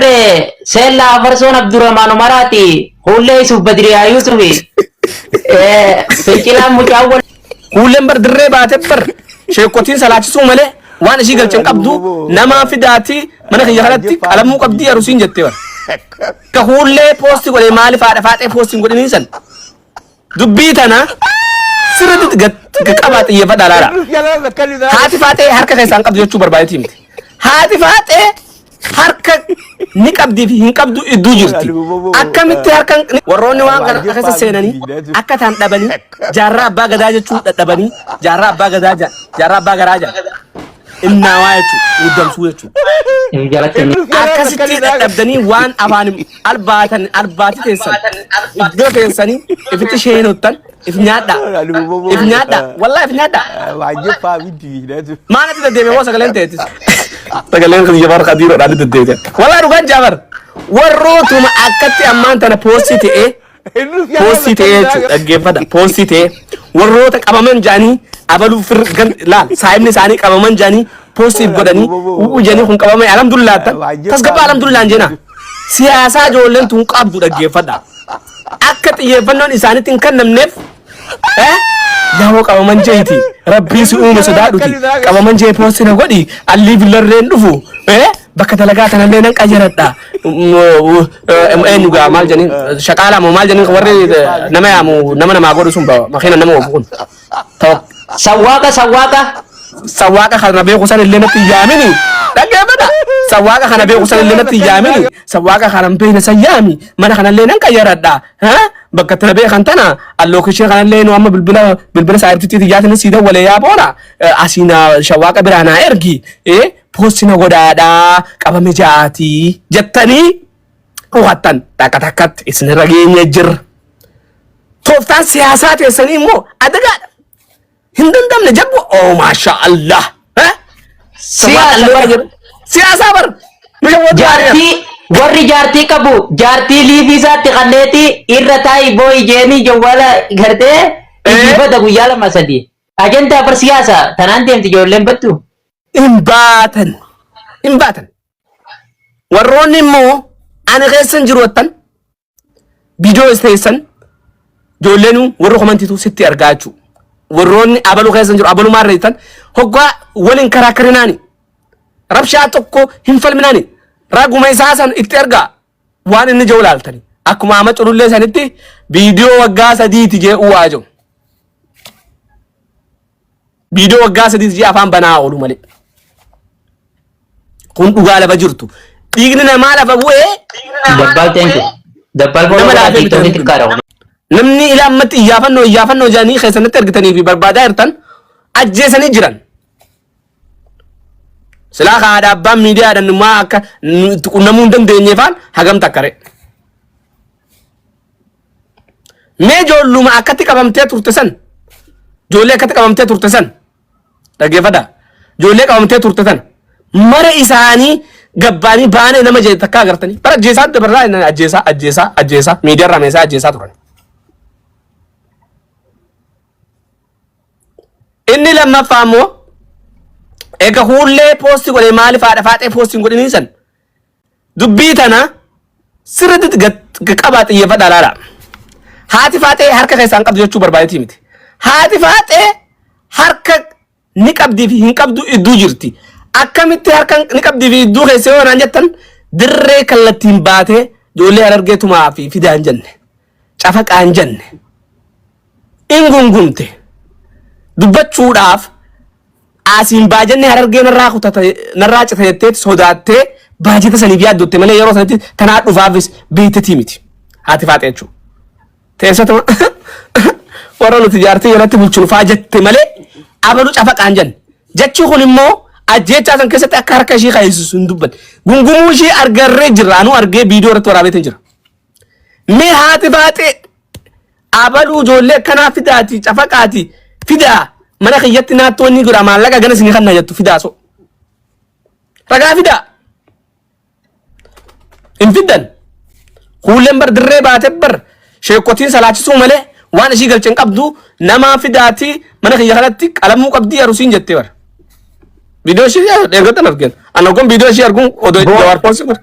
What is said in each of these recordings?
Barree seellaa afarsoon Abdurrahmaan Umaraati huullee Yusuf Badiriyaa Yusufi fincilaan mucaawwan Huulleen bar dirree baatee bar sheekkotiin salaachisuu malee waan ishii galchan qabdu namaa fidaati mana kiyya kanatti qalamuu qabdii arusiin jettee bar. Ka huullee poosti godhee maaliif haadha faaxee poosti hin godhiniin san. Dubbii tana sirriitti gad qabaa xiyyeeffadhaa laala. Haati faaxee harka keessaan qabdu jechuu barbaadetti himte. Haati faaxee harka ni qabdii fi hin qabdu idduu jirti. Akkamitti harka warroonni waan kana keessa seenanii akka taan dhabanii jaarraa abbaa gadaa jechuu dadhabanii jaarraa abbaa gadaa jaarraa abbaa garaa jaarraa. Innaawaa jechuun muddamsuu jechuudha. Hin jalatte ni. Akkasitti dadhabdanii waan afaan albaatan albaati teessan iddoo teessanii ifitti sheenottan if nyaadhaa. If nyaadhaa. Wallaa if nyaadhaa. Waajjiffaa miti miidhatu. Maalatti deddeebi'e moo sagaleen ta'eetis? Sagaleen kun Jafar Kadiiroo dhaadhi deddeebi'e. Wallaa dhugaan Jafar warrootuma akkatti ammaan tana poostii ta'ee Poostii ta'ee jechuudha dhaggeeffadha. Poostii ta'ee warroota qabaman jedhanii abaluu fir gan laal saayibni isaanii qabaman jedhanii poostiif godhanii u'u jedhanii kun qabame alhamdulillah tan tasgabaa alhamdulillah hin jenaa. Siyaasaa ijoolleen tun qabdu dhaggeeffadha. Akka xiyyeeffannoon isaanitti hin kennamneef Eh? Yaa'oo qabaman jeeti. Rabbii si uume sodaadhuti. Qabaman jee poosti na godhi. Allii villarreen dhufu. Eh? Bakka dalagaa tanallee nan qayyaradha. Eenyu gaa maal jedhanii shaqaalaa moo maal jedhanii warri eh, nama yaamu nama namaa godhu sun bawa. Makiina nama oofu kun. Ta'u. Sawwaaqa sawwaaqa. Sawwaaqa kana beeku san illee natti hin yaamini. Dhaggeeffadha. Sawwaaqa kana beeku san illee natti hin yaamini. Sawwaaqa kana hin beekne san yaami. Mana kanallee nan qayyaradha. Ha? Bakka itti na beekan tana allookishee kanallee nu amma bilbila bilbila saayibtitti xiyyaatiin sii dawwalee yaa boona asii na shawwaaqa biraa naa ergi ee poosti na godhaadhaa qabame ja'aatii jettanii hubattan takka takkatti isinirra geenye jirra. Tooftaan siyaasaa teessanii immoo adagaadha. Hin dandamne jabbu oh maasha Allah. Eh? Siyaasa Sabaa bar. jedhu. Siyaasaa bar. Biyya wajjin Jaartii warri jaartii qabu jaartii liivii isaatti kanneetii irra taa'ii boo'i jeenii jawwaala gartee Eh. iyyifata guyyaa lama sadii. Ajandaa bar siyaasa tanaan deemti ijoolleen battu. hin baatan. Hin baatan. Warroonni immoo ani keessa hin jiru wattan. Bidoo isteessan ijoolleen warra komantiitu sitti argaa jechuudha. Warroonni abaluu keessa jiru abalumaa irra jirtan hoggaa waliin karaa karinaani. Rabshaa tokko hin falminaani. Raguma isaa san itti argaa waan inni jiru laaltani. Akkuma amma culullee sanitti viidiyoo waggaa sadiiti jee uwaa jiru. Viidiyoo waggaa sadiis ji'a afaan banaa oolu malee. Kun dhugaa lafa jirtu. Dhiigni namaa lafa bu'ee Dabbal thank you. Dabbal Nama follow godhaa laafee TikTok bitamee xiqqaadha kun. namni ilaa ammatti iyyaafannoo iyyaafannoo jedhanii keessanitti argitanii fi barbaadaa jirtan ajjeesanii jiran. Silaa kaa dhaabbaan miidiyaadhaan immoo akka nu itti qunnamuu hin dandeenyeefaan hagamta akka re'e. Mee ijoolluma akkatti qabamtee turte san ijoollee akkatti qabamtee turte san dhaggeeffadha. Ijoollee qabamtee turte san mara isaanii gabbaanii baanee nama jeetu takka agartanii bara ajjeesaa dabarraa inni ajjeesaa ajjeesaa ajjeesaa miidiyaarraa meesaa ajjeesaa turan. Inni lammaffaa immoo egaa huullee poosti godhee maaliif haadha faaxee poosti hin godhiniin san Dubbii tana sirriitti gad qabaa xiyyeeffadhaa laala. Haati faaxee harka keessaan qabdu jechuu barbaadetii miti. Haati faaxee harka ni qabdii fi hin qabdu idduu jirti. Akkamitti harka ni qabdii fi idduu keessa yoo naan jettan dirree kallattiin baatee ijoollee harargee tumaa fi fidaan jenne. Cafaqaa hin jenne. In gungumte. Dubbachuudhaaf asiin baajanni harargee narraa kutata narraa cita jetteeti sodaattee baajata saniif yaaddotte malee yeroo sanatti tanaa dhufaafis beektetii miti. Haati faaxee jechuudha. Teessatuma warra nuti jaartii jalatti bulchinu faa jette malee abalu cafaqaa hin jenne. Jechi kun immoo ajjeechaa san keessatti akka harka ishii kaayisisu hin dubbanne. Gungumuu ishii argarree jirra. Anuu argee viidiyoo irratti waraabee jira. Mee haati baaxee abaluu ijoollee akkanaa fidaati cafaqaati fidaa mana kiyyatti naattoo inni jira maallaqa ganas ni kanna jettu fidaa so. Ragaa fidaa hin fiddan kuulleen bar dirree baate bar sheekotiin salaachisuu malee waan ishii galchan qabdu namaa fidaati mana kiyya kanatti qalamuu qabdii arusiin jette bar. Viidiyoo ishii eeggatan argina. Anna kun viidiyoo ishii arguun odoo Bro. jawaar poosii godhe.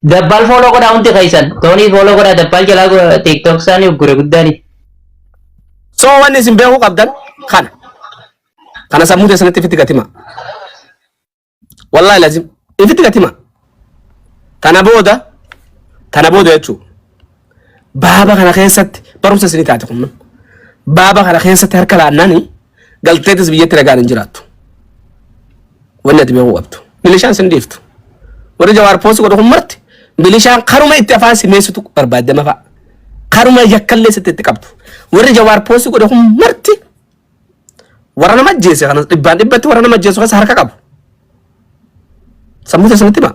Dabbaal fooloo godhaa hundi keessan. Toonii fooloo godhaa dabbaal jalaa go- tiktok isaanii uggure guddaani. So wanni isin beekuu qabdan kana. Kana sammuu keessanitti ifitti gatima. Wallaahi lazim ifitti gatima. Tana booda tana booda jechuudha. baaba kana keessatti barumsa isinii taate kun baaba kana keessatti harka laannani galteetis biyyatti nagaan hin jiraattu wanni ati beekuu qabdu milishaan sin dhiiftu warri jawaar poosi godhu kun marti milishaan karuma itti afaan simeessitu barbaadama fa'a karuma yakkallee sitti itti qabdu warri jawaar poosi godhu kun marti warra nama ajjeese kanas dhibbaan dhibbatti warra nama ajjeesu keessa harka qabu sammuu keessanitti himaa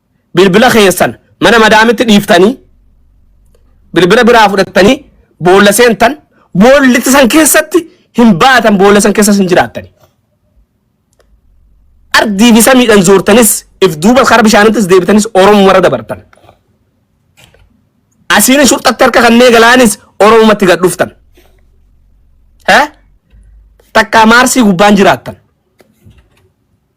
bilbila keessan mana madaamitti dhiiftanii bilbila biraa fudhattanii boolla seentan boollitti san keessatti hin baatan boolla san keessas hin jiraattani. Ardii fi samiidhaan zoortanis if duuba karaa bishaanittis deebitanis Oromoo warra dabartan. Asiin shurxatti harka kannee galaanis Oromumatti gad dhuftan. Takkaa maarsii gubbaan jiraattan.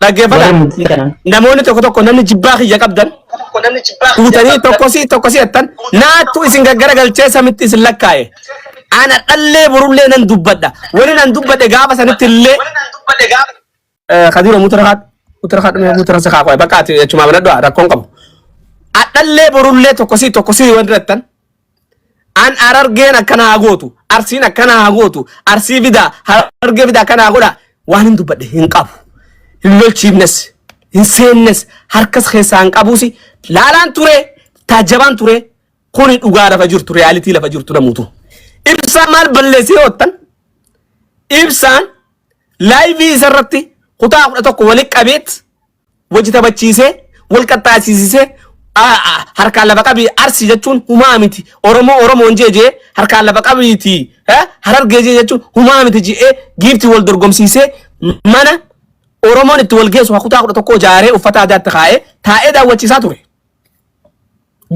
Dhaggeeffadha. Warri murtii kana. Namoonni tokko tokko namni jibbaa kiyya qabdan fuutanii tokkosii tokkosii jettan naattu isin gaggara galchee samitti isin lakkaa'e. Ana dhallee borullee nan dubbadha. Wani nan dubbadhe gaafa sanitti illee eh, kadiira mutara haadhu mutara haadhu mee mutara sakaa qo'e bakka ati jechumaa banadhu rakkoon qabu. Adhallee borullee tokkosii tokkosii wanti jettan An arargeen akkana haa gootu, arsiin akkana haa gootu, arsii fidaa, harargee fidaa akkana haa godha. Waan hin dubbadhe hin qabu. Hin lolchiifnes, hin seennes, harkas keessaa hin qabuus. Laalaan ture, taajjabaan ture, kuni dhugaa lafa jirtu, reyaalitii lafa jirtu namuutu. Ibsaan maal balleessee hoottan? Ibsaan laayivii isarratti kutaa kudha tokko walitti qabeet wajji taphachiisee wal qaxxaasiisisee harkaan lafa qabi arsi jechuun humaa miti oromoo oromoon jee jee harkaan lafa qabiiti harargee jee jechuun humaa miti je'ee giifti wal dorgomsiisee mana oromoon itti wal geessu hakutaa kudha tokkoo jaaree uffata aadaatti kaa'ee taa'ee daawwachiisaa ture.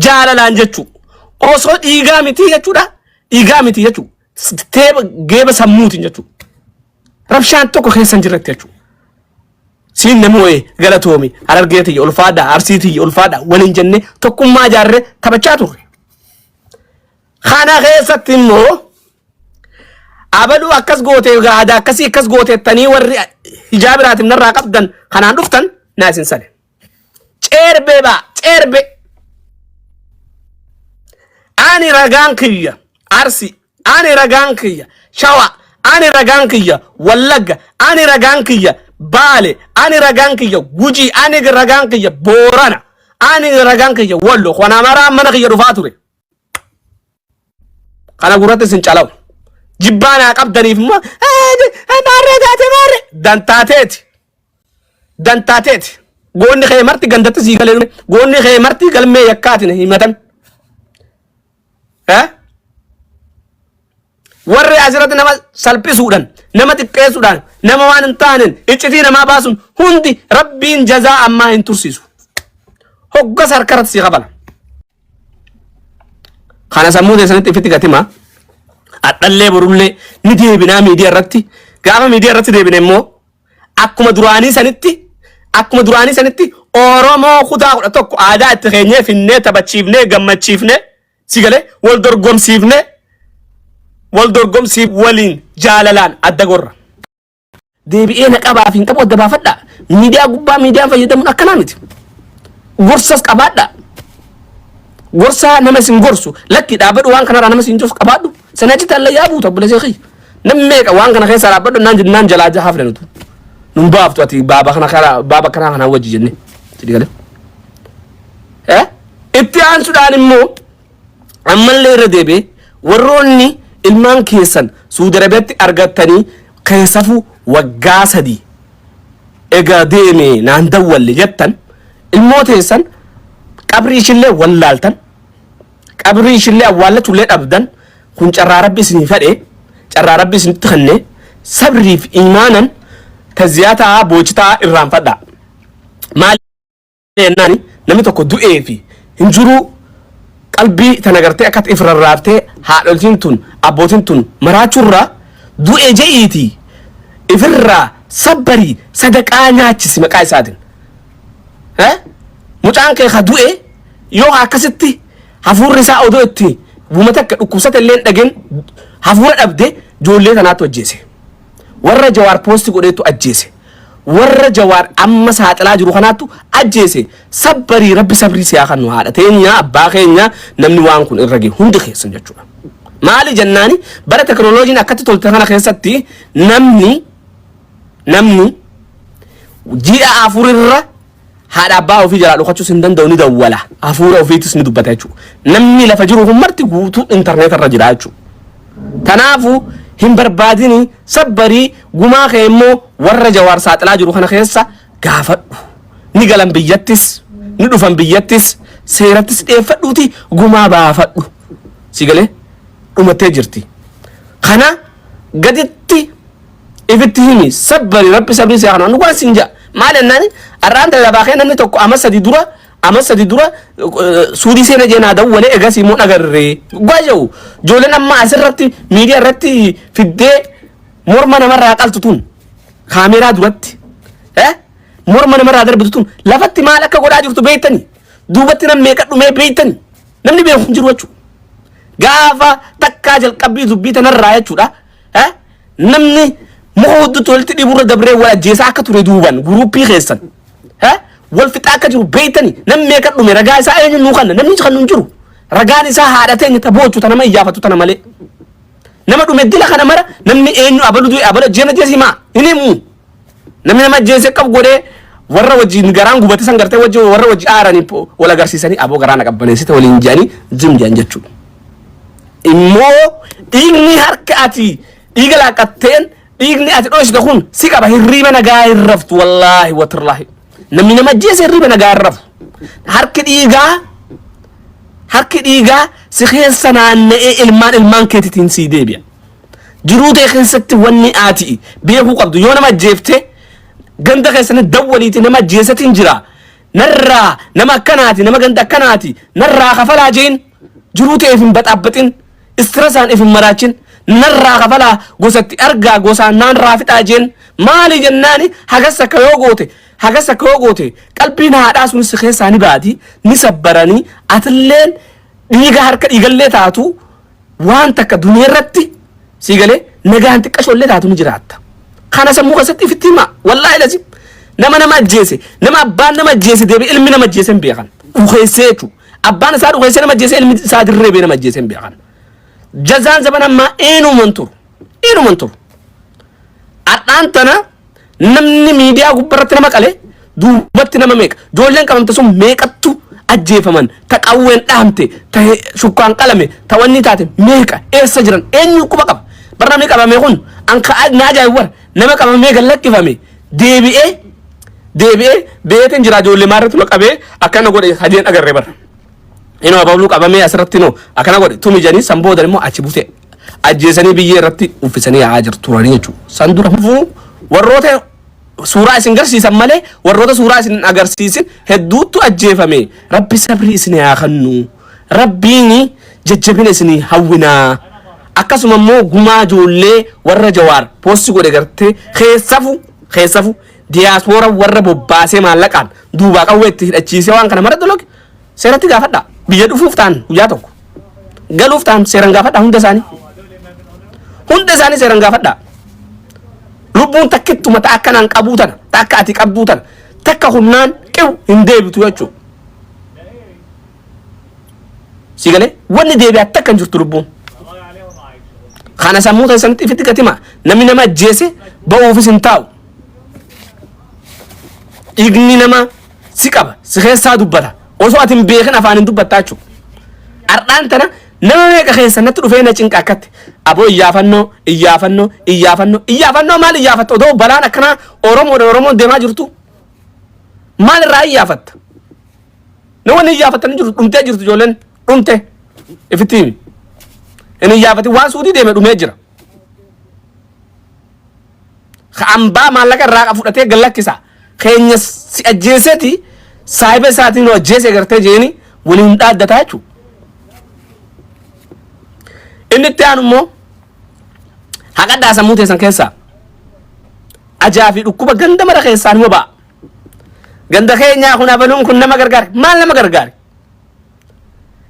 jaalalaan jechuu osoo dhiigaa mitii jechuudha dhiigaa mitii jechuu teeba geeba sammuutiin jechuu rabshaan tokko keessa hin jirretti jechuu siin namni wayii galatoomi harargee tiyya ulfaadhaa arsii tiyya ulfaadhaa waliin jennee tokkummaa jaarree taphachaa turre kana keessatti immoo abaluu akkas gootee gaada akkasii akkas gooteettanii warri hijaa biraatiin narraa qabdan kanaan dhuftan naa isin sale Ceerbee baa ceerbee. Ani ragaan kiyya Arsi, ani ragaan kiyya Shawa, ani ragaan kiyya Wallagga, ani ragaan kiyya Baale, ani ragaan kiyya Gujii, ani ragaan kiyya Boorana, ani ragaan kiyya Wallo. Kana maraa mana kiyya dhufaa ture. Kana gurratti isin calawu. Jibbaa naa qabdaniif immoo maarree taate maarree dantaateeti. Dantaateeti. Goonni kee marti gandatti sii galee dhume. Goonni kee marti galmee yakkaatiin himatan. Eh? Warri asirratti nama salphisuudhaan, nama xiqqeessuudhaan, nama waan hin taaneen iccitii namaa baasuun hundi rabbiin jazaa ammaa hin tursiisu. Hoggas harkarratti si qabala. Kana sammuu keessanitti ifitti gatimaa. Adhallee borullee ni deebinaa miidiyaa irratti. Gaafa miidiyaa irratti deebine immoo akkuma duraanii sanitti akkuma duraanii sanitti Oromoo kutaa kudha tokko aadaa itti keenyee finnee taphachiifnee gammachiifnee Si galee wal dorgomsiifnee wal dorgomsiif waliin jaalalaan adda gorra. Deebi'ee na qabaaf hin qabu adda baafadha. Miidiyaa gubbaa miidiyaan fayyadamuun akkanaa miti. Gorsas qabaadha. Gorsaa nama isin gorsu lakki dhaabadhu waan kanarraa nama isin gorsu qabaadhu. Sana achitti hallayyaa buuta obboleessa kiyya. Namni meeqa waan kana keessaa dhaabbadhu naan jennaan jalaa jahaa filan utuu. Nun baaftu ati baaba kana karaa baaba kanaa kanaa wajji jennee. Sidii galee. Eh? Itti aansuudhaan immoo ammallee irra deebi'ee warroonni ilmaan keessan Suudi Arabiyaatti argattanii keessafu waggaa sadii egaa deeme naan dawwalle jettan ilmoo teessan qabrii ishillee wallaaltan qabrii ishillee awwaallachuullee dhabdan kun carraa rabbi isinii fedhe carraa rabbi isinitti kenne sabriif iimaanan taziyaataa boochitaa irraanfadhaa maal jennaani namni tokko du'ee fi hin jiruu qalbii tana gartee akkatti if rarraaftee haadholtiin tun abbootiin tun maraachurra du'e je'iiti ifirraa sabbarii sadaqaa nyaachisi maqaa isaatiin. Eh? Mucaan kee ka du'e yoo akkasitti hafuurri isaa odoo itti buma takka dhukkubsate illee hin dhagin hafuura dhabde ijoollee tanaatti ajjeese. Warra jawaar poosti godheetu ajjeese. warra jawaar amma saaxilaa jiru kanaattu ajjeese sabbarii rabbi sabrii siyaa kannu haadha teenyaa abbaa keenyaa namni waan kun irra ga'e hundi keessan jechuudha maali jennaani bara teknoloojiin akkatti tolte kana keessatti namni namni ji'a afurirra haadha abbaa ofii jalaa dhokachuus hin danda'u ni dawwala hafuura ofiitis ni dubbata jechuudha. Namni lafa jiru kun marti guutuu intarneeta irra jira jechuudha. Tanaafu hin barbaadini sabbarii gumaa kee immoo warra jawaar saaxilaa jiru kana keessa gaafadhu. Ni galan biyyattis ni dhufan biyyattis seerattis dhiyeeffadhuuti gumaa baafadhu. Si galee dhumattee jirti. Kana gaditti ifitti himi sabbari rabbi sabrii si kana dhugaan sin ja maal ennaan arraan tana labaa kee namni tokko ama sadi dura ama sadi dura suudii seena jee naa dawwale egas immoo dhagarre dhugaa jau joolen amma asirratti miidiyaa irratti fiddee morma namarraa qaltu tun kaameeraa duratti eh morma namarraa darbitu tun lafatti maal akka godhaa jirtu beektani duubatti nam meeqa dhumee beektani namni beeku hin jiru jechuudha gaafa takkaa jalqabbii dubbii tanarraa jechuudha Eh? Namni muka hudduutti walitti dhiiburra dabree wal ajjeesaa akka ture duuban guruuppii keessan. Eh? Wal fixaa akka jiru beeytani namni meeqa dhume ragaa isaa eenyu nuu kanna namni kan nu hin jiru. Ragaan isaa haadha teenya ta boochu ta nama iyyaafatu tana malee. Nama dhume dila kana mara namni eenyu abalu du'e abala jeena jeesi maa hin himu. Namni nama ajjeese akka godhee warra wajjin garaan gubate san gartee wajji warra wajji aaranii po- wal agarsiisanii aboo garaa na qabbaneessite waliin jedhanii jim jedhan jechuudha. Immoo dhiigni harka ati dhiiga laaqqatteen dhiigni ati dhoosite kun si qaba hirriiba nagaa hin raftu wallaahi watirlaahi. Namni nama ajjeese hirriiba nagaa hin rafu. Harki dhiigaa harki dhiigaa si keessa naanna'ee ilmaan ilmaan keetitiin sii deebi'a. Jiruu tee keessatti wanni aati beekuu qabdu yoo nama ajjeefte ganda keessatti dawwaliiti nama ajjeesatiin jira. Narraa nama akkanaati nama ganda akkanaati narraa kafalaa jeen jiruu tee ifin baxaabbaxin istirasaan ifin maraachin narraa kafalaa gosatti argaa gosaan naan raafixaa jeen maali jennaani hagas akka yoo goote hagas akka yoo goote qalbiin haadhaa sunis si keessaa ni baati ni sabbaranii atilleen dhiiga harka dhiigallee taatu waan takka duniyaa irratti sii galee nagaan xiqqashoo illee taatu ni jiraatta. Kana sammuu keessatti ifitti himaa wallaahi lazim nama nama ajjeese nama abbaan nama ajjeese deebi ilmi nama ajjeese hin beekan dhukeessee jechuudha. Abbaan isaa dhukeessee nama ajjeese ilmi isaa dirree bee nama ajjeese hin beekan. Jazaan zaman ammaa eenyuman turu eenyuman turu. Har'aan tana namni miidiyaa gubbarratti nama qale duubatti nama meeqa ijoolleen qabamte sun meeqattu ajjeefaman ta qawween dhahamte ta he- shukkaan qalame ta wanni taate meeqa eessa jiran eenyu quba qaba bar namni qabame kun an ka na ajaa'ibu bar nama qabamee gad lakkifame deebi'ee deebi'ee beetiin jira ijoollee maarratti nu qabee akkana godhe hadiin agarre bar inoo abaabuluu qabamee asirratti noo akkana godhe tumi jedhanii san booda immoo achi butee ajjeesanii biyyee irratti uffisanii yaa'aa jiru turanii jechuudha. San dura hufuu warroota suuraa isin garsiisan malee warroota suuraa isin hin agarsiisin hedduuttu ajjeefame. Rabbi sabrii isin haa kennu. Rabbiin jajjabina isin hawwinaa. Akkasuma immoo gumaa ijoollee warra jawaar poostii godhe gartee keessafu keessafu diyaaspoora warra bobbaasee maallaqaan duubaa qawwee itti hidhachiisee waan kana mara dologe seeratti gaafadhaa. Biyya dhufuuf ta'an guyyaa tokko. Galuuf ta'an seeran gaafadhaa hunda isaanii. Hunda isaanii seeran gaafadhaa. Lubbuun takkittuma ta akka naan qabuu tana, ta akka ati qabduu tana, takka humnaan qibu hin deebitu jechuudha. Si galee wanni deebi'aa takka hin jirtu lubbuun. Kana sammuu keessanitti ifitti gatima. Namni nama ajjeese ba'uufis hin taa'u. Dhiigni nama si qaba si keessaa dubbata osoo ati hin beekin afaan hin dubbattaa jechuudha. Har'aan tana nama meeqa keessa natti dhufee na cinqa akkatti aboo iyyaafannoo iyyaafannoo iyyaafannoo iyyaafannoo maal iyyaafatta odoo balaan akkanaa Oromoodha Oromoon deemaa jirtu maal irraa iyyaafatta namoonni iyyaafattan hin jiru dhumtee jirtu ijoolleen dhumte ifitti himi hin iyyaafatin waan suutii deeme dhumee jira Ka ambaa maallaqa irraa qa fudhatee gad lakkisa. Keenya si ajjeeseti saahiba isaatiin nu ajjeese gartee jeeni waliin dhaaddataa jechuudha. Inni itti aanu immoo haqadhaa sammuu teessan keessaa ajaa fi dhukkuba ganda mara keessaa nima ba'a. Ganda keenyaa kun abaluun kun nama gargaare maal nama gargaare?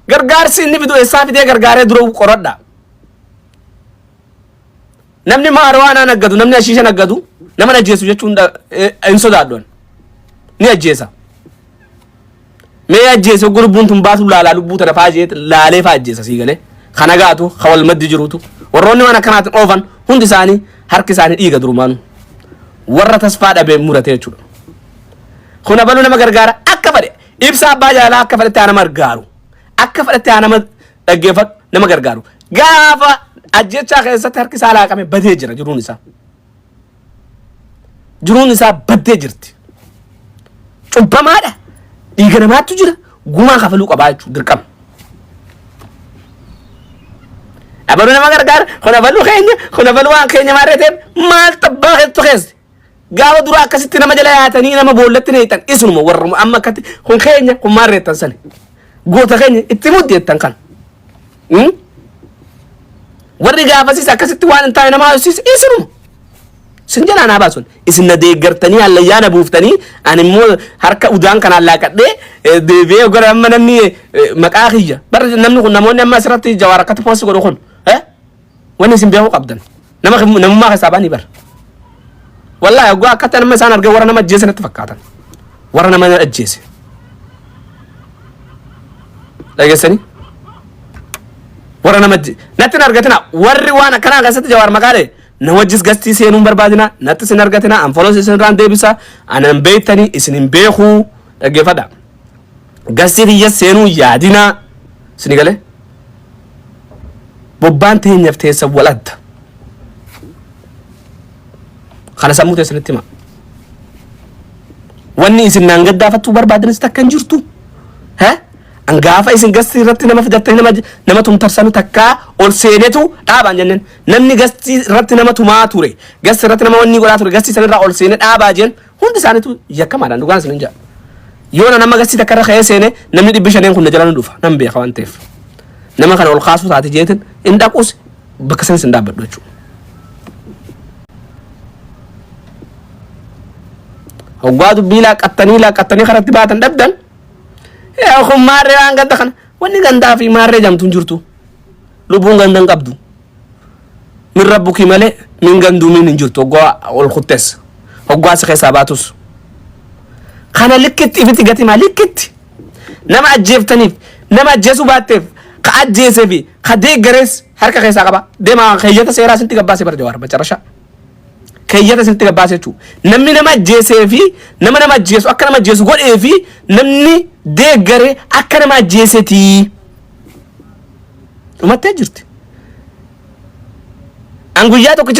Gargaarsi inni fidu eessaa fidee gargaaree dura qoradha. Namni maariwaanaa naggatu, namni ashiisha naggatu, nama hin ajjeesu jechuun dha- eh, hin sodaadhu. ani. Ni ajjeesa. Mee ajjeese oggu lubbuun tun baatu laalaa lubbuu tana faa jeet laalee faa ajjeesa sii galee. Kan hagaatu, kan wal maddi jiruutu. Warroonni waan akkanaatiin oofan hundi isaanii harki isaanii dhiiga durumaanu. Warra tasfaa dhabee murate jechuudha. Kun abaluu nama gargaara akka fedhe ibsa abbaa jaalaa akka fedhetti haa nama gargaaru. Akka fedhetti haa nama dhaggeeffadhu nama gargaaru gaafa ajjechaa keessatti harki isaa laaqame badee jira jiruun isaa jiruun isaa baddee jirti cubbamaadha dhiiga namaattu jira gumaa kafaluu qabaa jechuun dirqama abaluu nama gargaara kun abaluu keenya kun abaluu waan keenya maarree ta'eef maal tabbaa keessu keessa Gaafa dura akkasitti nama jala yaatanii nama boollatti neeytan isinuma warruma amma akkatti kun keenya kun maal reettan sani. Goota keenya itti muddi jettan kan. Hmm? Warri gaafasiis akkasitti waan hin taane nama haasofsiise isinuma. Sin jalaa naa baasun isin na deeggartanii hallayyaa na buuftanii ani immoo harka udaan kanaan laaqadhee eh, deebi'ee gara amma namni eh, maqaa kiyya. Barri namni kun namoonni amma asirratti jawaar akkatti poosti godhu kun. Wanni isin beekuu qabdan nama kin- namummaa keessaa ba'anii bar. Wallaahi oggaa akkatti nama isaan argee warra nama ajjeese natti fakkaatan. Warra nama ajjeese. Dhageessanii? warra nama ji- natti hin argatina warri waan akkanaa keessatti jawaar maqaale na wajjis gastii seenuun barbaadina natti sin argatina anfolos isin irraan deebisa anan beektanii isin hin beekuu dhaggeeffadha Gastii kiyya seenuu yaadinaa. Sini galee? Bobbaan teenyaf teessan wal adda. Kana sammuu teessanitti himaa. Wanni isin naan gaddaafattuu barbaadanis takka hin jirtu. He? An gaafa isin gastii irratti nama fidattee nama nama tumtarsanu takkaa ol seenetu dhaabaan jenneen. Namni gastii irratti nama tumaa ture. Gastii irratti nama wanni godhaa ture. Gastii sanirraa ol seenee dhaabaa jeen Hundi isaaniitu yakkamaadhaan dhugaan isinin jedha. Yoo na nama gasii takka irra ka'ee seene namni dhibbi shaneen kun na jala ni dhufa nan beeka waan ta'eef. Nama kana ol kaasuu taate jeetin hin dhaquus bakka sanis hin dhaabbadhu jechuudha. Hoggaa dubbii laaqqattanii laaqqattanii karatti baatan dhabdan yaa kun maarree waan gadda kana Wanni gandaa fi maarree jamtu hin jirtu. Lubbuun ganda hin qabdu. Min rabbuki malee min ganduu min hin jirtu hoggaa ol kuttes. Hoggaa si keessaa baatus. Kana likkitti ifitti gatimaa likkitti. Nama ajjeeftaniif nama ajjeesuu baatteef ka ajjeesee fi ka deeggarees harka keessaa qaba. Deemaa keeyyata seeraa isinitti gabbaasee bara jawaar macarashaa. keeyyata isinitti gabbaasa jechuudha. Namni nama ajjeesee fi nama nama ajjeesu akka nama ajjeesu godhee fi namni deeggare akka nama ajjeesetii. Dhumattee jirti. An guyyaa tokkicha